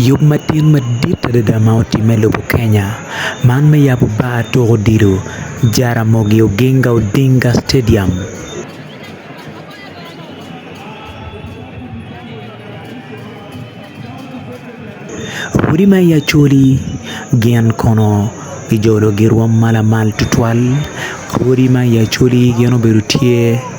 Yub matin madit adada ma otimme i lobo Kenya man me yabo bar tuko odilo Jaramogi Oginga Odinga Stadium. Odi ma i Acholi gin kono kijolo girwom ma lamal tutwal, odi ma i Acholi gin obedo tye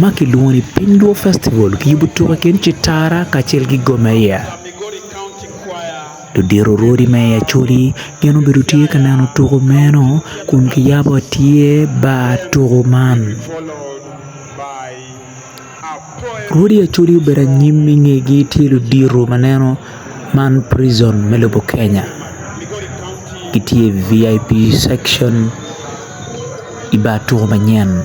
ma kilwongo ni Piny Luo Festival kiyubo tuko i kin Citara kacel ki Gomeya. Ludito rwodi me i Acholi gin obedo tye ka neno tuko meno kun kiyabo tye bar tuko man. Rwodi Acholi obedo anyim i ngegi tye ludito ma neno man prison me lobo Kenya gitye i VIP section i bar tuko manyen.